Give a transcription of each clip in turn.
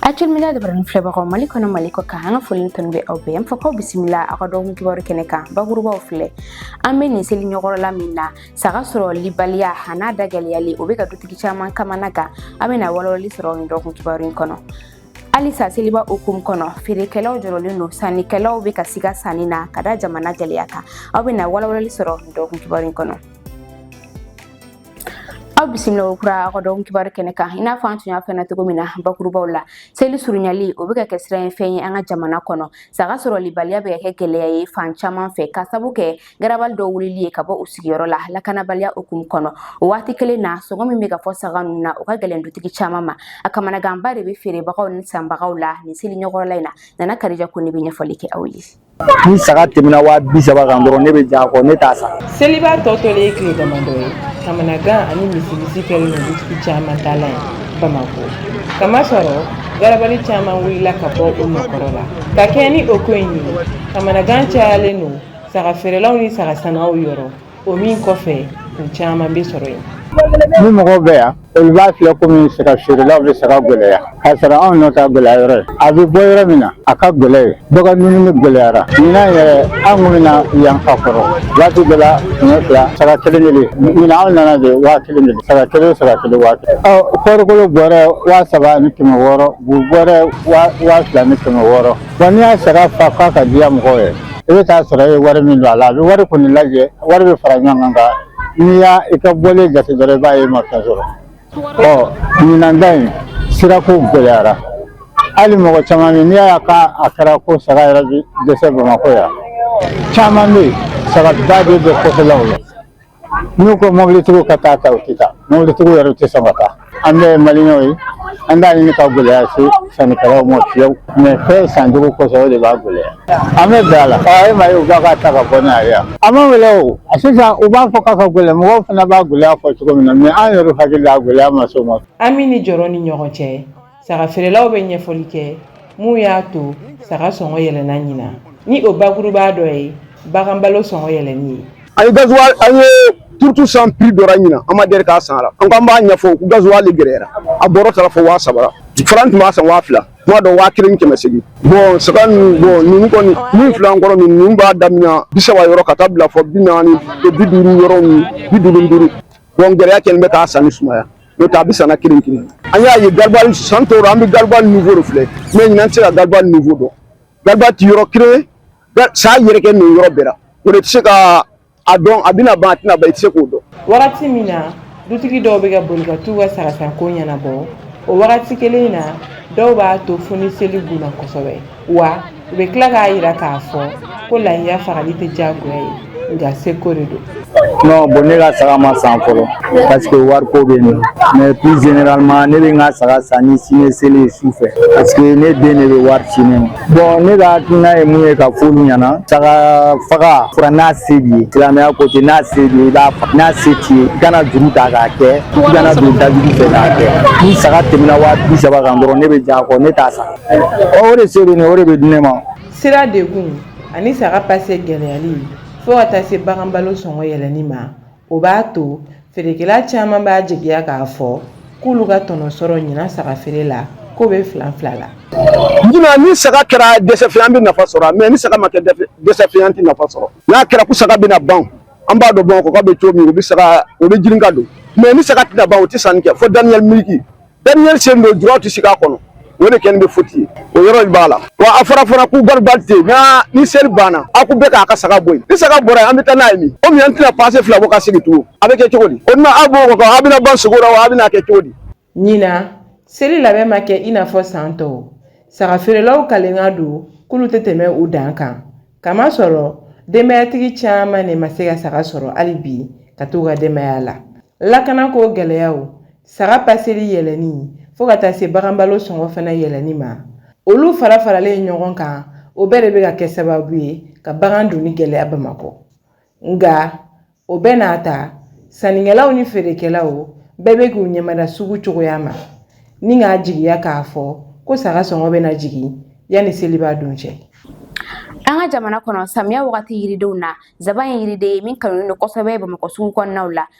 Actuel Média jabaranin filɛbagaw mali kɔnɔ mali kɔkan an ka foli tun bɛ aw bɛɛ fɔ k'aw bisimila aw ka dɔgɔkun kibaru kɛnɛ kan bakurubaw filɛ an bɛ nin seli ɲɔgɔnla min na saga sɔrɔlibaliya an'a da gɛlɛyali o bɛ ka dutigi caman kamanagan aw bɛna walawalali sɔrɔ nin dɔgɔkun kibaru in kɔnɔ halisa seliba hukumu kɔnɔ feerekɛlaw jɔrɔlen don sannikɛlaw bɛ ka siga sanni na ka da jamana gɛlɛya kan aw bɛna walawalali sɔrɔ nin dɔgɔkun kibaru in kɔnɔ aw bisimila kokura aw ka dɔgɔkun kibaru kɛnɛ kan i n'a fɔ an tun y'a fɛna cogo min na bakurubaw la seli surunyali o bɛ ka kɛ siranɲɛfɛn ye an ka jamana kɔnɔ saga sɔrɔlibaliya bɛ ka kɛ gɛlɛya ye fan caman fɛ ka sabu kɛ garabali dɔw wulili ye ka bɔ u sigiyɔrɔ la lakanabaliya hukumu kɔnɔ o waati kelen na sɔngɔ min bɛ ka fɔ saga ninnu na o ka gɛlɛn dutigi caman ma a kamanaganba de bɛ feerebagaw ni sanbagaw la nin seli ɲɔgɔnla in na nana karija kɔnɛ bɛ ɲɛfɔli kɛ aw ye ni saga tɛmɛna waa bi saba kan dɔrɔn ne bɛ jɛn a kɔ ne t'a san seliba tɔ tolen ye tile damadɔ ye kamanagan ani misimisi kɛlen don dutigi caman tala ye bamakɔ kamasɔrɔ garabali caman wulila ka bɔ u nɔ kɔrɔ la ka kɛɲɛ ni o ko in ye kamanagan cayalen don saga feerelaw ni saga sannaw yɔrɔ O min kɔfɛ u caman bɛ sɔrɔ yen ni mɔgɔw bɛ yan olu b'a filɛ komi saga feerelaw bɛ saga gɛlɛya k'a sɔrɔ anw nɔ t'a gɛlɛya yɔrɔ ye a bɛ bɔ yɔrɔ min na a ka gɛlɛn yen bagan dumuni gɛlɛyara ɲinan yɛrɛ an tun bɛ na yan ka kɔrɔ waati dɔ la kɛmɛ fila saga kelen kelen ɲinan anw nana de waa kelen kelen saga kelen saga kelen waa kelen ɔ kɔɔrikolo bɔrɛ waa saba ni kɛmɛ wɔɔrɔ bu bɔrɛ waa fila ni kɛmɛ wɔɔrɔ Wa n'i ye saga fa f'a ka diya mɔgɔw ye i bɛ taa sɔrɔ e ye wari min don a la a bɛ wari kɔni lajɛ wari bɛ fara ɲɔgɔn kan nka n'i ye i ka bɔlen jate dɔrɔn i b'a ye i ma fɛn sɔrɔ ɔ ɲinan ta in sirako gɛlɛyara hali mɔgɔ caman bɛ yen n'i y'a ye a ka a kɛra ko saga yɛrɛ bɛ dɛsɛ bamakɔ yan caman bɛ yen saga ba de bɛ kɔfɛlaw la n'u ko mɔbilitigiw ka taa a ta u tɛ taa mɔbilitigiw yɛrɛ tɛ sɔn ka taa an bɛɛ ye maliyɛnw ye an t'a ɲini ka gɛlɛya se sannikɛlaw ma fiyewu mɛ fɛn san cogo kosɔn o de b'a gɛlɛya an bɛ bɛn a la ɔ e m'a ye u b'a ka ta ka bɔ n'a ye yan a man gɛlɛn wa sisan u b'a fɔ k'a ka gɛlɛn mɔgɔw fana b'a gɛlɛya fɔ cogo min na mɛ an yɛrɛ hakili la a gɛlɛya ma s'o ma hami ni jɔrɔ ni ɲɔgɔn cɛ saga feerelaw bɛ ɲɛfɔli kɛ mun y'a to saga sɔngɔ yɛlɛnna ɲinan ni o bakuruba dɔ ye bagan balo sɔngɔ yɛlɛnni ye an ye gazuwali an ye turuto san piri dɔ ra ɲinan an ma deli k'a san la an k'an b'a ɲɛfɔ ko gazuwali gɛrɛyara a bɔrɔ taara fo waa saba fɔlɔ an tun b'a san waa fila tuma dɔ waa kelen kɛmɛ segin bɔn saga ninnu bɔn ninnu kɔni min fila kɔrɔ min ninnu b'a daminɛ bi saba yɔrɔ ka taa bila fo bi naani bi duuru yɔrɔ min bi duuru duuru bɔn gɛlɛya kɛlen bɛ k'a sanni sumaya n'o tɛ a bɛ san na kelen kelen an y'a ye garibali san tɔw la an bɛ garibali niveau de filɛ mais ɲinan tɛ se ka garibali niveau dɔn garibali ti yɔrɔ kelen saga yɛrɛkɛnin yɔrɔ bɛɛ la o de tɛ se ka a dɔn a bɛna ban a tɛna ban i tɛ se k'o dɔn wagati min na dutigi dɔw bɛ ka boli ka t'u ka sagasanko ɲɛnabɔ o wagati kelen in na dɔw b'a to fo ni seli gunna kosɛbɛ wa u bɛ tila k'a jira k'a fɔ ko layiya fagali tɛ diyagoya ye nka seko de don non bon ne ka saga ma san fɔlɔ parce que wariko bɛ yen mais plus généralement ne bɛ n ka saga san ni sini seli ye su fɛ parce que ne den de bɛ wari ci ne ma bon ne ka hakilina ye mun ye k'a fɔ olu ɲɛna saga faga fura n'a se b'i ye silamɛya ko ten n'a se b'i ye i b'a faga n'a se t'i ye i kana juru ta k'a kɛ i kana don dajuru fɛ k'a kɛ ni saga tɛmɛna waa bi saba kan dɔrɔn ne bɛ j'a kɔ ne t'a san o de se bɛ ne o de bɛ di ne ma sira degun ani saga pase gɛlɛyali fo ka taa se bagan balo sɔngɔ yɛlɛnni ma o b'a to feerekɛla caman b'a jigiya k'a fɔ k'olu ka tɔnɔ sɔrɔ ɲinan saga feere la k'o bɛ filanfila la ɲinan ni saga kɛra dɛsɛfɛn an bɛ nafa sɔrɔ mais ni saga ma kɛ dɛsɛfɛn an tɛ nafa sɔrɔ n'a kɛra ko saga bɛna ban an b'a dɔn bamakɔ bɛ cogo min u bɛ saga o bɛ girin ka don mais ni saga tɛna ban o tɛ san kɛ fo dernière minute dernier seli don julaw tɛ sigi k'a kɔnɔ o de kɛlen bɛ foti ye o yɔrɔ in b'a la wa a fɔra fana ko garibali tɛ yen nka ni seli banna a ko bɛɛ k'a ka saga bɔ yen ni saga bɔra yen an bɛ taa n'a ye min komi an tɛna pase fila bɔ ka segin tugun a bɛ kɛ cogo di o tuma aw b'o kɔkɔ a bɛna ban sugu la wa a bɛna kɛ cogo di. ɲinan seli labɛn ma kɛ i n'a fɔ san tɔw saga feerelaw kalenkan don k'olu tɛ tɛmɛ u dan kan k'a masɔrɔ denbayatigi caman de ma se ka saga sɔrɔ hali bi ka t'u ka denbaya la lakana ko gɛlɛyaw saga paseli yɛlɛnni fo ka taa se bagan balo sɔngɔ fana yɛlɛnni ma olu farafaralen ɲɔgɔn kan o bɛɛ de bɛ ka kɛ sababu ye ka bagan donni gɛlɛya bamakɔ nka o bɛɛ n'a ta sannikɛlaw ni feerekɛlaw bɛɛ bɛ k'u ɲɛmada sugu cogoya ma ni k'a jigiya k'a fɔ ko saga sɔngɔ bɛna jigin yanni seliba don cɛ an ka jamana kɔnɔ samiya wagati yiridenw na zaban ye yiriden ye min kanulen don kosɛbɛ bamakɔ sugu kɔnɔnaw la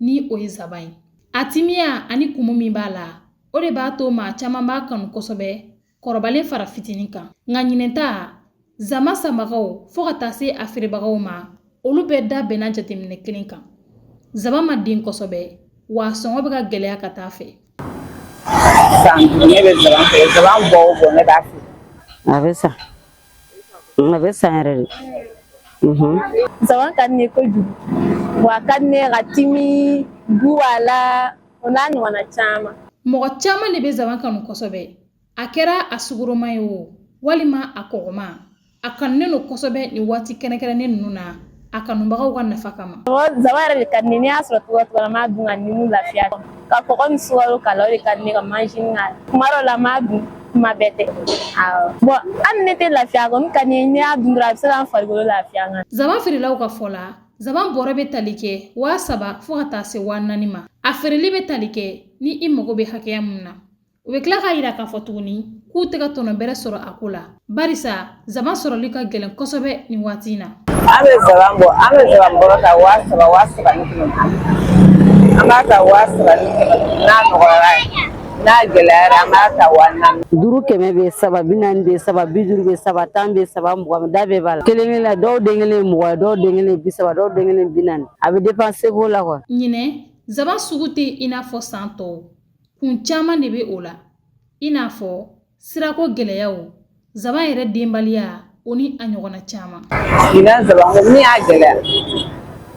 ni o ye zaban ye a timiya ani kumu min b'a la o de b'a to maa caman b'a kanu kosɛbɛ kɔrɔbalen fara fitinin kan nka ɲinan ta zaban sanbagaw fo ka taa se a feerebagaw ma olu bɛɛ da bɛnna jateminɛ kelen kan zaban ma den kosɛbɛ wa a sɔngɔ bɛ ka gɛlɛya ka taa a fɛ san ne bɛ zaban fɛ zaban bɔ o bɔ ne b'a fɛ. a bɛ san a bɛ san yɛrɛ de. zaban ka di ne ye kojugu wa a ka di ne ye ka timi don a la o n'a ɲɔgɔnna caman. mɔgɔ caman de bɛ zaban kanu kosɛbɛ. a kɛra a sukaroma ye o walima a kɔgɔma a kanunen don kosɛbɛ nin waati kɛrɛnkɛrɛnnen ninnu na a kanubagaw ka nafa kama zaban yɛrɛ de ka di ne ye n y'a sɔrɔ cogoya cogoya la n b'a dun ka nimu lafiya ka kɔgɔ ni sukaro k'a la o de ka di ne ka manzini k'a la kuma dɔ la n b'a dun kuma bɛɛ tɛ bɔn hali ne tɛ lafiya kɔni ka di ne ye n'i y'a dun dɔrɔn a bɛ se ka n farikolo lafiya n kan zaban feerelaw ka fɔ la zaban bɔrɛ bɛ tali kɛ waa saba fo ka taa se waa naani ma a feereli bɛ tali kɛ ni i mago bɛ hakɛya mun na U bɛ tila k'a yira k'a fɔ tuguni k'u tɛ ka tɔnɔ bɛrɛ sɔrɔ a ko la barisa zaban sɔrɔli ka gɛlɛn kosɛbɛ nin waati in na an bɛ zaban bɔ an bɛ zaban bɔrɔ ta waa saba waa saba ni kɛmɛ an b'a ta waa saba ni kɛmɛ n'a nɔgɔyara n'a gɛlɛyara an b'a ta waa naani duuru kɛmɛ bɛ saba bi naani bɛ saba bi duuru bɛ saba tan bɛ saba mugan da bɛɛ b'a la kelen kelen la dɔw den kelen mugan dɔw den kelen bi saba dɔw den kelen bi naani a bɛ depan seko la wa ɲinɛ zaban sugu tɛ i n'a fɔ san tɔw kun caman de bɛ o la i n'a fɔ sirako gɛlɛyaw zaban yɛrɛ denbaliya o ni a ɲɔgɔnna caman ɲinan zaban ko min y'a gɛlɛya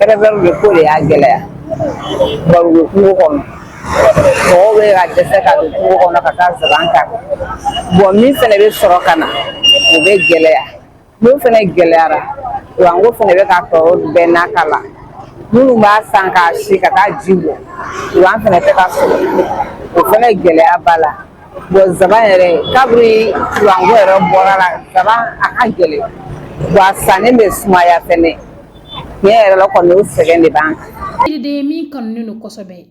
erebɛliw de ko de y'a gɛlɛya bari u bɛ kungo kɔnɔ mɔgɔw bɛ ka dɛsɛ ka don kungo kɔnɔ ka taa zaban ta bɔn min fana bɛ sɔrɔ ka na o bɛ gɛlɛya N'o fana gɛlɛyara kuranko fana bɛ ka tɔɔrɔ bɛɛ n'a ta la minnu b'a san k'a si ka taa ji bɔ kuran fana tɛ ka sɔrɔ o fana gɛlɛya b'a la bon zaban yɛrɛ kabiri kuranko yɛrɛ bɔr'a la zaban a ka gɛlɛn wa a sanni bɛ sumaya fɛnɛ tiɲɛ yɛrɛ la kɔni o sɛgɛn de b'an kan. Yiriden min kanunen don kosɛbɛ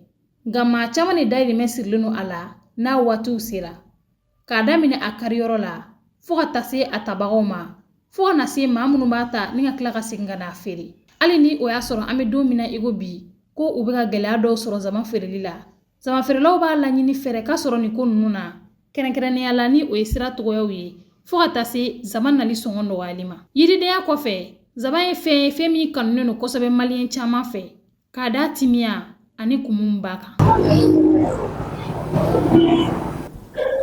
nka maa caman de dayirimɛ sirilen don a la n'a waatiw sera k'a daminɛ a kariyɔrɔ la fo ka taa se a tabagaw ma fo ka na se maa minnu b'a ta ni ka tila ka segin ka n'a feere hali ni o y'a sɔrɔ an bɛ don min na i ko bi ko u bɛ ka gɛlɛya dɔw sɔrɔ zaban feereli la zaban feerelaw b'a laɲini fɛɛrɛ ka sɔrɔ nin ko ninnu na kɛrɛnkɛrɛnnenya la ni o ye sira tɔgɔyaw ye fo ka taa se zaban nali sɔngɔ nɔgɔyali ma yiridenya kɔfɛ zaban ye fɛn ye fɛn min kanunen don kosɛbɛ maliyɛn caman fɛ K'a da timiya ani kumuya kan.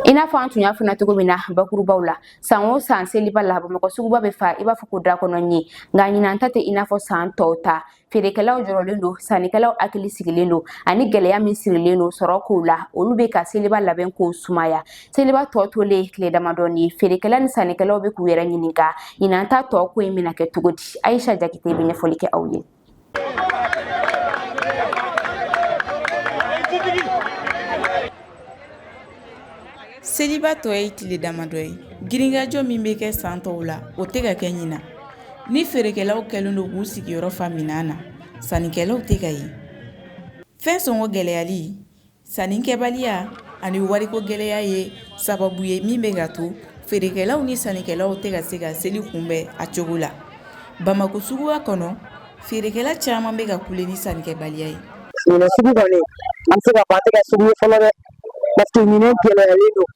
I n'a fɔ an tun y'a fɔ na cogo min na bakurubaw la san o san seliba la bamakɔ suguba bɛ fa i b'a fɔ ko da kɔnɔ ɲin nka ɲinan ta tɛ i n'a fɔ san tɔw ta feerekɛlaw jɔrɔlen don sannikɛlaw hakili sigilen don ani gɛlɛya min sirilen don sɔrɔ kow la olu bɛ ka seliba labɛn kow sumaya seliba tɔ tolen ye tile damadɔnin ye feerekɛla ni sannikɛlaw bɛ k'u yɛrɛ ɲininka ɲinan ta tɔ ko in bɛna kɛ cogo di ayisa jakite bɛ ɲɛfɔli kɛ aw ye seliba tɔ ye tile damadɔ ye girinkajɔ min bɛ kɛ san tɔw la o tɛ ka kɛ ɲinan ni feerekɛlaw kɛlen don k'u sigiyɔrɔ fa minan na sannikɛlaw tɛ ka ye fɛn sɔngɔ gɛlɛyali Sannikɛbaliya ani wariko gɛlɛya ye sababu ye min bɛ ka to feerekɛlaw ni sannikɛlaw tɛ ka se ka seli kunbɛn a cogo la bamakɔ suguba kɔnɔ feerekɛla caman bɛ ka kule ni sannikɛbaliya ye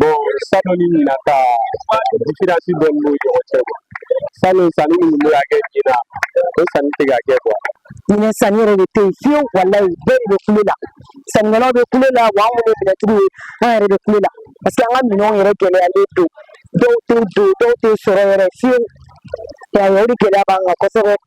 Bon, salon ni ɲina ta différence dɔ b'u ni ɲɔgɔn cɛ quoi. Salon sanni min tun bɛ ka kɛ ɲina, o sanni tɛ ka kɛ quoi. Ɲinɛ sanni yɛrɛ de tɛ yen fiyewu walayi bɛɛ de bɛ kule la. Sannikɛlaw bɛ kule la wa an minnu ye minɛtigiw ye an yɛrɛ bɛ kule la parce que an ka minɛnw yɛrɛ gɛlɛyalen don dɔw tɛ don dɔw tɛ sɔrɔ yɛrɛ fiyewu. Y'a ye o de gɛlɛya b'an kan kosɛbɛ.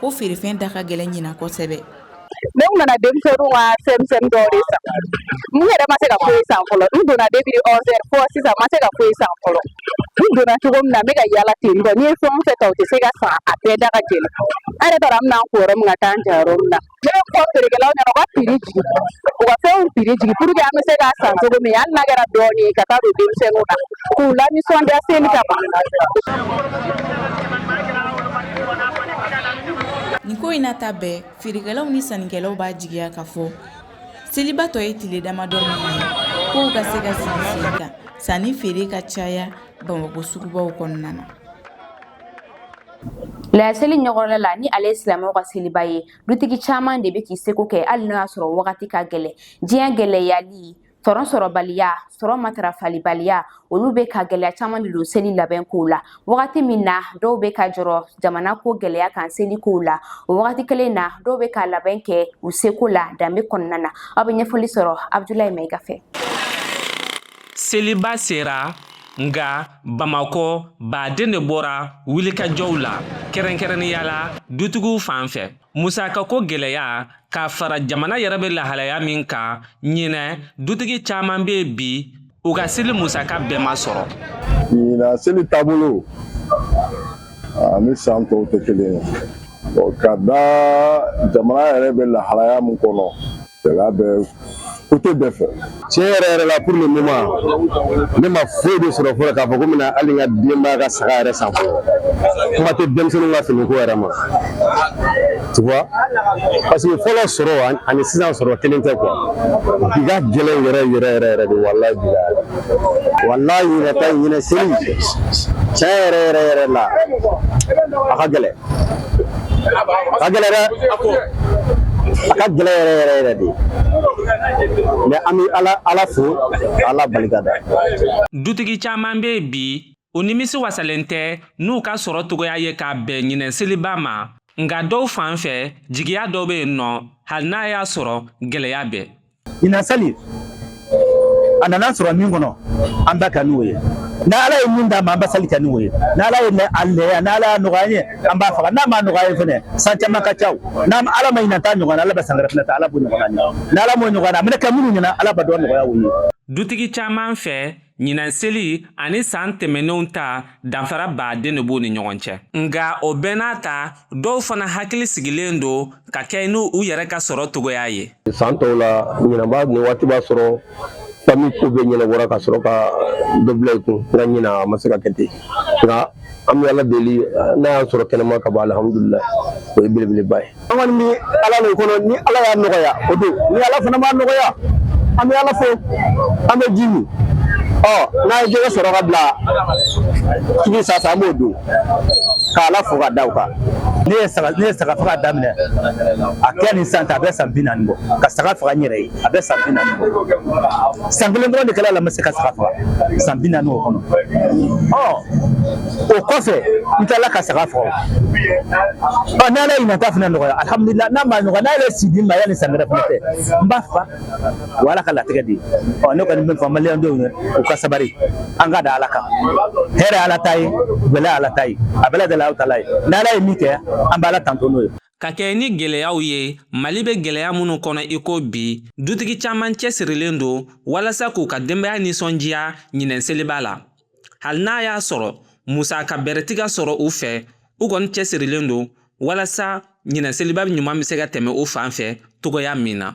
ko feerefɛn da ka gɛlɛn ɲina kosɛbɛ ne nana denmisɛnninw ka fɛn san n yɛrɛ ma se ka foyi san fɔlɔ n donna depuis onze heures fɔ sisan ma se ka foyi san fɔlɔ n donna cogo min na n bɛ ka yaala ten dɔrɔn n'i ye fɛn o fɛn ta o tɛ se ka san a bɛɛ da ka gɛlɛn an yɛrɛ t'a dɔn an bɛna an ko yɔrɔ min ka taa an ja yɔrɔ min na ne b'a fɔ feerekɛlaw ɲɛna u ka prix jigin u ka fɛnw prix jigin pour que an bɛ se k'a san cogo min hali n'a kɛra dɔɔnin ye ka taa don denmisɛnninw na k'u lanisɔndiya seli kama nin ko in n'a ta bɛɛ feerekɛlaw ni sannikɛlaw b'a jigiya k'a fɔ seliba tɔ ye tile damadɔ min ye kow ka se ka sigi sen kan sanni feere ka caya bamakɔ sugubaw kɔnɔna na layaseli ɲɔgɔnla la ni ale ye silamɛw ka seliba ye dutigi caman de bɛ k'i seko kɛ hali n'o y'a sɔrɔ wagati ka gɛlɛn diɲɛ gɛlɛyali sɔrɔ sɔrɔbaliya sɔrɔ matarafalibaliya olu bɛ ka gɛlɛya caman de don seli labɛn kow la wagati min na dɔw bɛ ka jɔrɔ jamana ko gɛlɛya kan seli kow la o wagati kelen na dɔw bɛ ka labɛn kɛ u seko la danbe kɔnɔna na aw bɛ ɲɛfɔli sɔrɔ abudulayi mayiga fɛ seliba sera nka bamakɔ baden de bɔra wulikajɔw la kɛrɛnkɛrɛnnenya la dutigiw fan fɛ musakako gɛlɛya ka fara jamana yɛrɛ bɛ lahalaya min kan ɲinɛ dutigi caman bɛ bi u ka seli musaka bɛɛ ma sɔrɔ ɲinɛ seli taabolo ani san tɔw tɛ kelen ye ka da jamana yɛrɛ bɛ lahalaya min kɔnɔ Gɛlɛya bɛ côté bɛɛ fɛ tiɲɛ yɛrɛ yɛrɛ la pour le moment ne ma foyi de sɔrɔ fɔlɔ k'a fɔ ko n bɛna hali n ka denbaya ka saga yɛrɛ san fɔlɔ kuma tɛ denmisɛnninw ka finiko yɛrɛ ma tu vois parce que fɔlɔ sɔrɔ ani sisan sɔrɔ kelen tɛ quoi bi ka gɛlɛn yɛrɛ yɛrɛ yɛrɛ yɛrɛ de walayi bi walayi ɲinɛ ta ɲinɛ seli tiɲɛ yɛrɛ yɛrɛ yɛrɛ la a ka gɛlɛn ka gɛlɛn dɛ a ka gɛlɛn yɛrɛ yɛrɛ yɛrɛ de mais an bɛ ala ala fo ala barika da dutigi caman bɛ bi u nimisi wasalen tɛ n'u ka sɔrɔ dɔgɔya ye ka bɛn ɲinɛ seliba ma nka dɔw fan fɛ jigiya dɔ bɛ yen nɔ hali n'a y'a sɔrɔ gɛlɛya bɛ ɲina sali a nana an sɔrɔ min kɔnɔ an b'a kɛ n'o ye ni ala ye min d'an ma an bɛ sali kɛ n'o ye ni ala ye a lɛya ni ala y'a nɔgɔya ye an b'a faga n'a ma nɔgɔya ye fɛnɛ san caman ka ca ala ma ɲina ta ɲɔgɔn ala bɛ san wɛrɛ fana ta ala b'o ɲɔgɔn ni ala m'o ɲɔgɔn a minɛ ka minnu ɲɛna ala b'a dɔn nɔgɔya ye dutigi caman fɛ ɲinan seli ani san tɛmɛnenw ta danfaraba de b'u ni ɲɔgɔn cɛ nka o bɛɛ n'a ta dɔw fana hakili sigilen don ka kɛɲɛ ni u yɛrɛ ka sɔrɔ cogoya ye san tɔw la ɲinan b'a nin waati b'a sɔrɔ fami ko bɛɛ ɲɛnabɔra ka sɔrɔ ka dɔ bila i kun nka ɲinan a ma se ka kɛ ten nka an bɛ ala deli n'a y'an sɔrɔ kɛnɛma kaban alhamdulila o ye belebeleba ye an kɔni bɛ ala de kɔnɔ ni ala y'a nɔgɔya o don ni ala fana m'a nɔgɔya an bɛ ala fo an bɛ ji min ɔ n'an ye jɛgɛ sɔrɔ ka bila tigi sasa an b'o dun ka ala fo ka da o kan ne ye saga ne ye saga faga daminɛ a kɛ nin san ta a bɛ san bi naani bɔ ka saga faga n yɛrɛ ye a bɛ san bi naani bɔ san kelen dɔrɔn de kɛra la n ma se ka saga faga san bi naani o kɔnɔ ɔ o kɔfɛ n tilala ka saga faga ɔ n'ala ye ɲina ta fana nɔgɔya alihamudulila n'a ma nɔgɔya n'ala ye si di n ma yanni san wɛrɛ fana tɛ n b'a fa o ala ka latigɛ de ye ɔ ne kɔni b'a fɔ maliyɛn denw ye u ka sabari an ka da ala kan hɛrɛ ala ta ye gɛlɛya ala ta ye a bɛɛ lajɛlen ala ta ye n'ala ye min kɛ an b'ala tanto n'o ye Ka kɛɲɛ ni gɛlɛyaw ye, Mali bɛ gɛlɛya minnu kɔnɔ i ko bi, dutigi caman cɛsirilen don walasa k'u ka denbaya nisɔndiya ɲinɛn seliba la. Hali n'a y'a sɔrɔ musaka bɛrɛ tɛ ka sɔrɔ u fɛ, u kɔni cɛsirilen don walasa ɲinɛn seliba ɲuman bɛ se ka tɛmɛ u fan fɛ cogoya min na.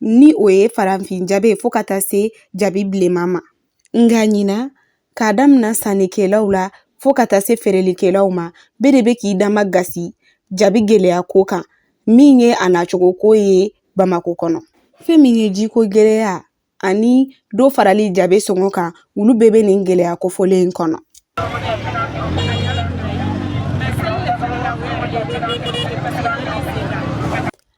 ni o ye farafin jabi ye fo ka taa se jabi bilenman ma nka ɲina k'a damina sannikɛlaw la fo ka taa se feerelikɛlaw ma bɛɛ de bɛ k'i damakasi jabi gɛlɛya ko kan min ye a nacogo ko ye bamakɔ kɔnɔ fɛn min ye jiko gɛlɛya ani dɔ farali jabi sɔngɔ kan olu bɛɛ bɛ nin gɛlɛya kofɔlen in kɔnɔ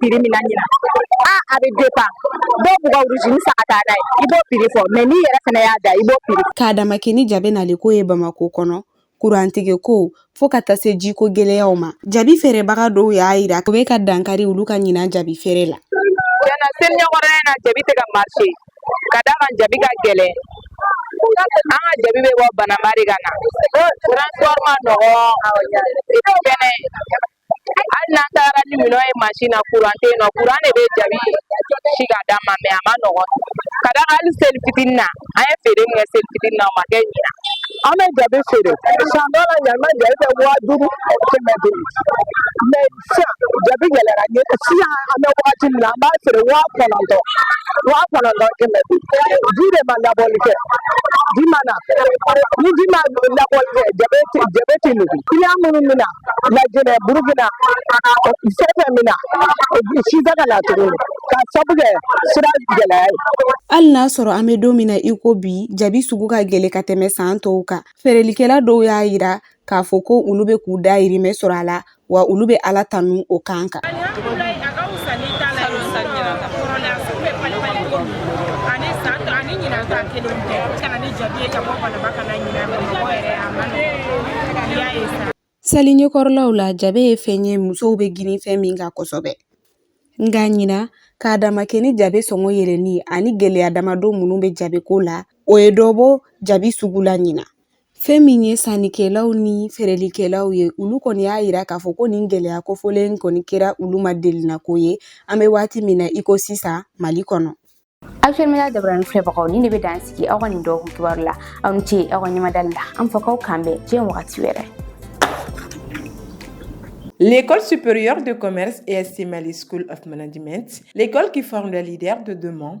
prix min na ɲina a a bɛ dépend dɔw b'u ka origine san ka taa n'a ye i b'o prix fɔ mais n'i yɛrɛ fana y'a da i b'o prix k'a dama kɛ ni jabi nali ko ye bamako kɔnɔ kurantigɛ ko fo ka taa se jiko gwɛlɛyaw ma jabi feerebaga dɔw y'a yira o bɛ ka dankari olu ka ɲinan jabi feere la tiɲɛ na seli ɲɛkɔrɔla in na jabi tɛ ka marché ka d'a kan jabi ka gɛlɛn an ka jabi bɛ bɔ bananba de ka na transport man nɔgɔ fɛnɛ hali n'an taara ni minɛn ye mansin na kuran tɛ yen nɔ kuran de bɛ jabi si ka d'an ma mɛ a man nɔgɔn ka d'a kan hali seli fitinin na an ye feere min kɛ seli fitinin na o ma kɛ ɲina an bɛ jabi feere san dɔ la ɲama jabi bɛ waa duuru kɛmɛ duuru mɛ sisan jabi gɛlɛyara sisan an bɛ wagati min na an b'a feere waa kɔnɔntɔn waa kɔnɔntɔn kɛmɛ duuru ji de ma labɔli kɛ ji ma na ni ji ma labɔli kɛ jabi tɛ jabi tɛ nugu kiliyan minnu bɛ na Lajinɛ Burukina fɛn min na si tɛ ka na tuguni k'a sabu kɛ sira gɛlɛya ye. Hali n'a sɔrɔ an bɛ don min na i ko bi, jabi sugu ka gɛlɛn ka tɛmɛ san tɔw kan. Feerelikɛla dɔw y'a jira k'a fɔ ko olu bɛ k'u dahirimɛ sɔrɔ a la, wa olu bɛ Ala tanu o kan kan. Sanni t'a la yɔrɔ san ɲinan ta kɔrɔla u bɛ pali pali cogo min ani san tɔ ani ɲinan ta kelen tɛ ka na ni jabi ye ka bɔ Banamba ka na ɲinan Bamakɔ yɛrɛ a man nɔgɔn i y'a ye sa Seli ɲɛkɔrɔlaw la jabe ye fɛn ye musow bɛ girin fɛn min kan kosɛbɛ nka ɲina k'a dama kɛ ni jabe sɔngɔ yɛlɛnni ani gɛlɛya damadɔ minnu bɛ jabeko la o ye dɔ bɔ jabi sugu la ɲina Fɛn min ye sannikɛlaw ni feerelikɛlaw ye olu kɔni y'a jira k'a fɔ ko nin gɛlɛya kofɔlen in kɔni kɛra olu ma delina ko ye an bɛ waati min na iko sisan Mali kɔnɔ Actuel Media jabaranin filɛbagaw nin de bɛ dan sigi aw ka nin dɔgɔkun kibaru la aw ni ce aw ka ɲɛmadali la an fɔ k'aw k'an bɛn diɲɛ wagati wɛrɛ L'école supérieure de commerce ESC Mali School of Management, l'école qui forme les leaders de demain,